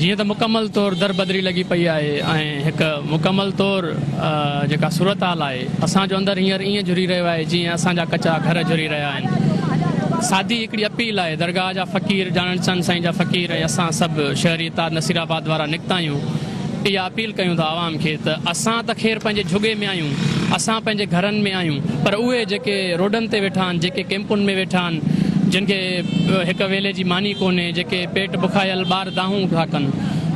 جيئن ته مڪمل طور دربدري لڳي پئي آهي ۽ هڪ مڪمل طور جيڪا صورتحال آهي، اسان جو اندر هينئر ائين جهري رهيو آهي جيئن اسان جا ڪچا گهر جهري رهيا آهن. سادي هڪڙي اپيل آهي، درگاهه جا فقير، ڄاڻڻ چاند سائين جا فقير ۽ اسان سڀ شهري اتحاد نصير آباد وارا نڪتا آهيون، اها اپيل ڪيون ٿا عوام کي ته اسان ته خير پنهنجي جهڳي ۾ آهيون، اسان پنهنجي گهرن ۾ آهيون پر اهي جيڪي روڊن تي ويٺا آهن، جيڪي ڪئمپن ۾ ويٺا آهن، جن کي. هڪ ويلي جي ماني ڪونهي، جيڪي پيٽ بکايل ٻار دانهون گهه ڪن.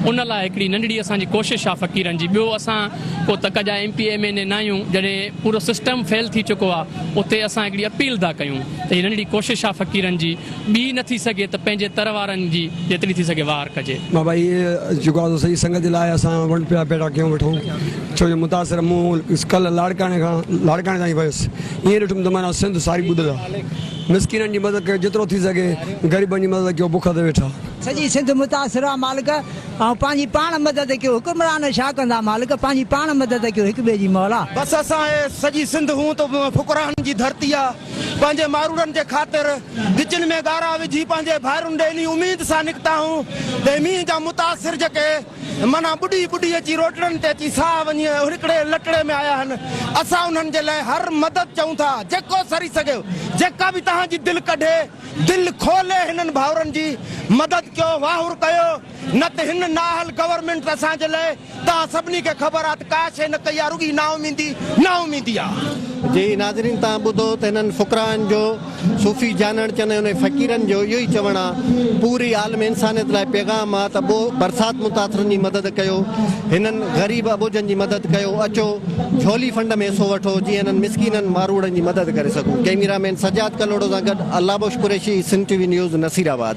ان لاء هڪڙي ننڍڙي اسان جي ڪوشش آ فقيرن جي. ٻيو اسان ڪو تڪ جا M P M N A ناهيون. جڏهن پورو سسٽم فيل ٿي چڪو آ، اتي اسان هڪڙي اپيل ٿا ڪيون ته هي ننڍڙي ڪوشش آ فقيرن جي، ٻي نه ٿي سگهي ته پنهنجي تر وارن جي جيتري ٿي سگهي واهر ڪجي. بابا هي جيڪو آ سو سڄي سنگت جي لاء اسان ونڊ پيا پيڙا ڪيون وٺون. ڇو جو متاثر مون ڪلهه لاڙڪاڻي کان لاڙڪاڻي تائين ويس. ائين ڏٺم ته معنيٰ سنڌ ساري ٻڏل آ. مسڪينن جي مدد ڪيو جيترو ٿي سگهي غريبن جي مدد ڪيو بک تي ويٺا. سڄي سنڌ متاثر آ مالڪ ۽ پنهنجي پاڻ مدد ڪيو حڪمران ڇا ڪندا مالڪ پنهنجي پاڻ مدد ڪيو هڪ ٻئي جي مولا. بس اسان اهي سڄي سنڌ هون ته فقرائن جي ڌرتي آ پنهنجي ماروڙن جي خاطر ڳچن ۾ ڳارا وجهي پنهنجي ڀائرن ڏي انهي اميد سان نڪتا هون ته مينهن جا متاثر جيڪي. معنيٰ ٻڏي ٻڏي اچي روٽڙن تي اچي ساهه وڃي ۽ هڙڪڙي لٽڙي ۾ آيا هن. اسان انهن جي لاء هر مدد چئون ٿا، جيڪو سري سگهي، جيڪا به توهان جي دل ڪڍي، دل کولي هنن ڀائرن جي مدد ڪيو، واهر ڪيو، نه ته هن نااهل گورنمينٽ ته اسان جي لاء، توهان سڀني کي خبر آ ته ڪا شيء نه ڪئي آ، رڳي نااميدي، نااميدي آ. جي ناظرين توهان ٻڌو ته هنن فقراءن جو صوفي جانڻ چن انهن فقيرن جو اهو ئي چوڻ آ پوري عالم انسانيت لاء پيغام آ ته ٻوھ برسات متاثرن جي مدد ڪيو هنن غريب اٻوجهن جي مدد ڪيو اچو جهولي فنڊ ۾ حصو وٺو جيئن هنن مسڪينن ماروئڙن جي مدد ڪري سگهون ڪئميرا مين سجاد ڪلهوڙو سان گڏ Allah Bakhsh Qureshi Sindh T V news Naseer آباد.